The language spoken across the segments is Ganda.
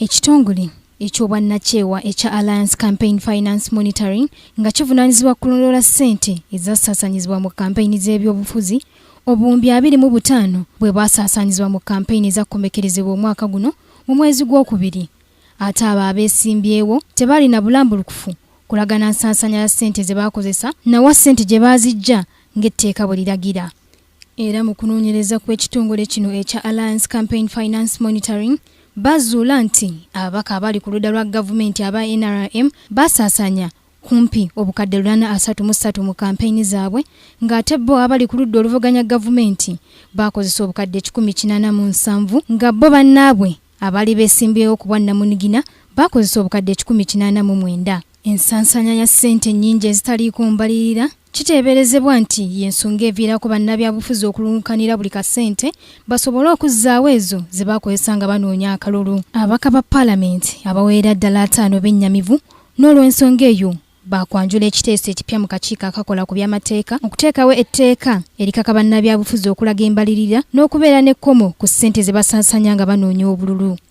Ekitongole eky'obwannakyewa ekya Alliance Campaign Finance Monitoring nga kivunaanyizibwa kulondoola ssente ezasaasaanyizibwa mu kampeyini z'ebyobufuzi obuwumbi abiri mu butaano bwe bwasaasaanyizibwa mu kampeyini ezakomekkerezebwa omwaka guno mu mwezi gw'okubiri ate abo abeesimbyewo tebaalina bulambulukufu kulagana nsaasaanya ya ssente ze baakozesa nawa ssente gye baaziggya ng'etteeka bwe liragira Era mu kunoonyereza kw'ekitongole kino ekya Alliance Campaign Finance Monitoring bazuula nti ababaka abali ku ludda lwa gavumenti aba NRM basaasanya kumpi obukadde lunana asatu mu ssatu mu kampeyini zaabwe ng'ate bo abali ku ludda oluvuganya gavumenti baakozesa obukadde ekikumi kinaana mu nsanvu nga bo bannaabwe abaali beesimbyewo ku bwannamunigina baakozesa obukadde ekikumi kinaana mu mwenda ensansanya ya ssente ennyingi ezitaliiko mbalirira Kiteeberezebwa nti y'ensonga eviirako bannabyabufuzi okulunkanira buli kasente basobole okuzzaawo ezo ze bakozesa nga banoonya akalulu. Ababaka ba Palamenti abawerera ddala ataano bennyamivu n'olwensonga eyo baakwanjula ekiteeso ekipya mu kakiiko akakola ku by'amateeka okuteekawo etteeka erikaka bannabyabufuzi okulaga embalirira n'okubeera n'ekkomo ku ssente ze basaasaanya nga banoonya obululu.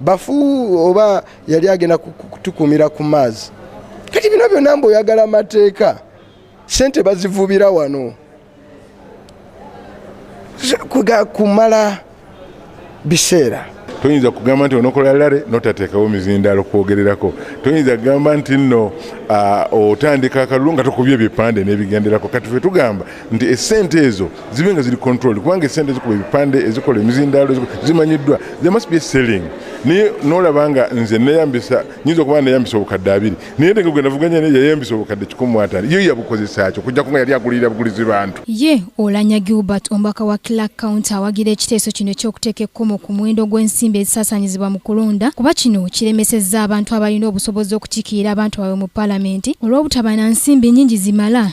bafu oba yali agenda kutukumira ku maazi kati bino byonna mbu oyagala amateeka sente bazivubira wano kumala biseera toyinza kugamba nti onokola lare notateekawo mizindalo kwogererako toyinza kugamba nti nno otandika akalulu nga tokubye ebipande nebigenderako kati fe tugamba nti esente ezo zibe nga ziri control kubanga esente ezikuba ebipande ezikola emizindaalo zimanyiddwa the must be selling naye nolaba nga nze neyambisa nyinza okuba neyambisa obukadde abiri naye nenge gwe navuganya naye yayambisa obukadde kikumu ataano yo yabukozesaki okujjako nga yali agulirira bugulizi bantu ye olanya gilbert omubaka wa clark county awagira ekiteeso kino ekyokuteeka ekkomo ku muwendo gw'ensimbi ezisasanyizibwa mu kulonda kuba kino kiremesezza abantu abalina obusobozi okukikiira abantu baabwe mu palamenti olw'obutaba na nsimbi nyingi zimala